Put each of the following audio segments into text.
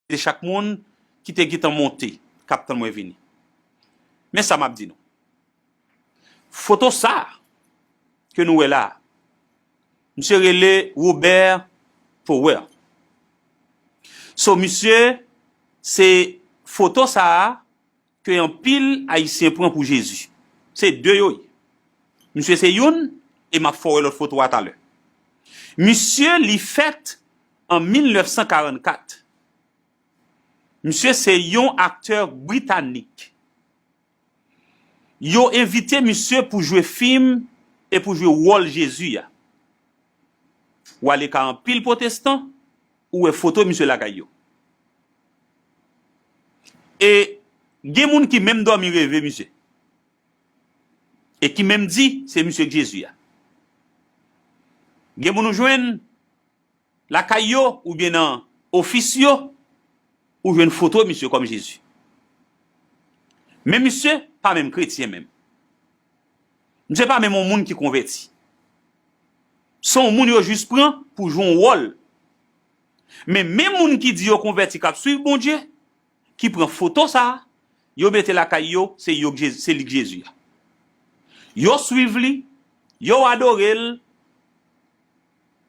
de chak moun ki te gentan monte kap tann mwen vini. Men sa map di nou. Foto sa ke nou wè la, misye rele Robert Power. So misye se foto sa ke anpil ayisyen pran pou Jezi. Se 2 yo ye. Misye se youn e map fè w wè lòt foto a talè. Misye li fèt an 1944. Misye se yon aktè britanik. Yo envite misye pou jwe fim e pou jwe wòl Jezi a. Wale ka anpil pwotestan Ou wè foto misye lakay yo. E gen moun ki menm dòmi reve misye. E ki menm di se misye k Jezi a. Gen moun ou jwenn lakay yo oubyen nan ofis yo, ou jwenn foto misye kòm Jezi. Men misye pa menm kretyen menm. Misye pa menm yon moun ki konvèti. Se yon moun yo jis pran pou jwe yon wòl. Men menm moun ki di yo konvèti k ap suiv Bondye, ki pran foto sa a, yo mete lakay yo, se yo k Jezi, se li k Jezi a. Yo suiv li, yo adore l,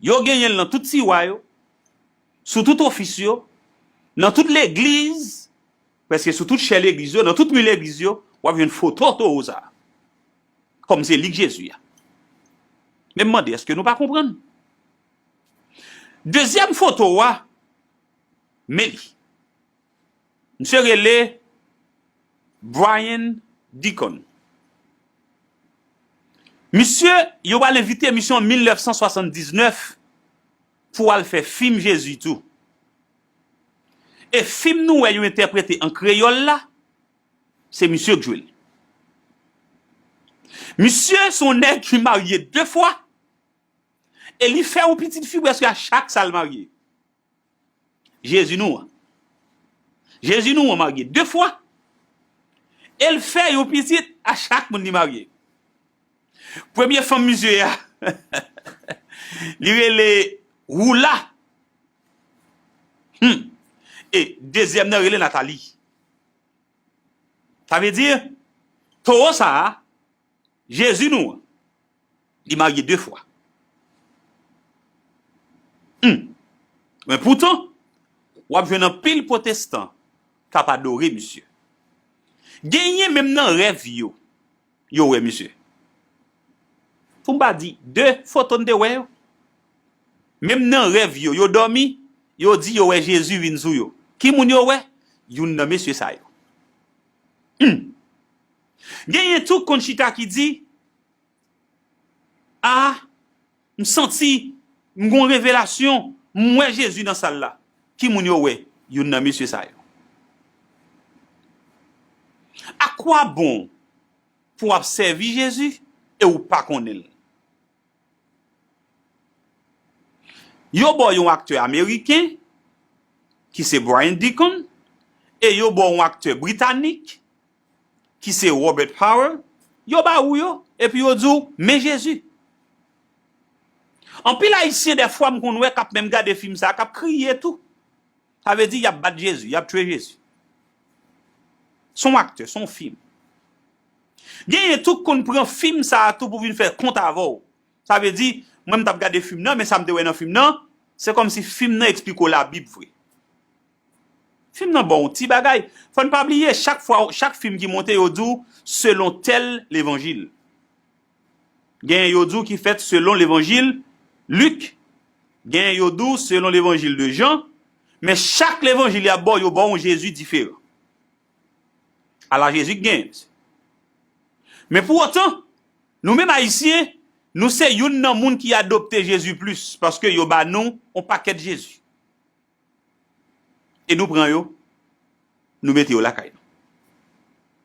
yo genyen l nan tout tiwa yo, sou tout ofis yo, nan tout legliz. Prèske sou tout chè legliz yo, nan tout mi legliz yo, w ap jwenn foto towo sa a, kòm se li k Jezi a. Men m mande, èske nou pa konprann? Dezyèm foto a, men li. Misye rele Brian Deacon. Misye, yo pral envite misye an 1979. Pou al fè fim Jezi tou. E fim nou wè yo entèprete an kreyòl la, se misye k jwe l. Misye se yon nèg ki marye 2 fwa e li fè yon pitit fi prèske a chak sa l marye. Jezi nou an. Jezi nou an marye 2 fwa e l fè yon pitit a chak moun li marye. Premye fanm mizye a, li rele Roula. Hum! E dezyèm nan rele Nathalie. Sa vle di, towo sa a, Jezi nou an, li marye de fwa. Hum! Men poutan, w ap jwenn anpil pwotestan k ap adore misye. Genyen menm nan rèv yo, yo wè misye. Pou m pa di 2 foto n te wè yo. Menm nan rèv yo, yo dòmi, yo di yo wè Jezi vin sou yo. Ki moun yo wè? Youn nan mesye sa yo. Hum! Genyen tou k konn chita ki di, A! M santi m gon revelasyon m wè Jezi nan sal la ki moun yo wè youn nan mesye sa yo a kwa bon pou wap sèvi Jezi e ou pa konnen l yo baw yon aktè ameriken ki se Brian Deacon e yo baw yon aktè britanik ki se Robert Howell, yo ba ou yo, epi yo di w, men Jezi. Anpil Ayisyen dèfwa m konn wè k ap menm gade fim sa a, k ap kriye tou. Sa vle di y ap bat Jezi, y ap tchwe Jezi. S on aktè, s on fim. Genyen tou k konn pran fim sa a tou pou vin fè kont avè w. Sa vle di, mwen m t ap gade fim nan, men sa m te wè nan fim nan, se kòmsi fim nan esplike w Labib vre. Film nan bon w ti bagay. Fò n pa bliye chak fwa chak film ki monte yo di w selon tèl levanjil. Genyen yo di w ki fèt selon levanjil Lik, genyen yo di w selon levanjil de Jan, men chak levanjil y ap ba w yo ba w yon Jezi diferan. Ala Jezi k genyen mesye. Men pou otan, nou menm Ayisyen, nou se youn nan moun ki adopte Jezi plis paske yo ba nou yon pakèt Jezi. e nou pran yo nou mete yo lakay nou.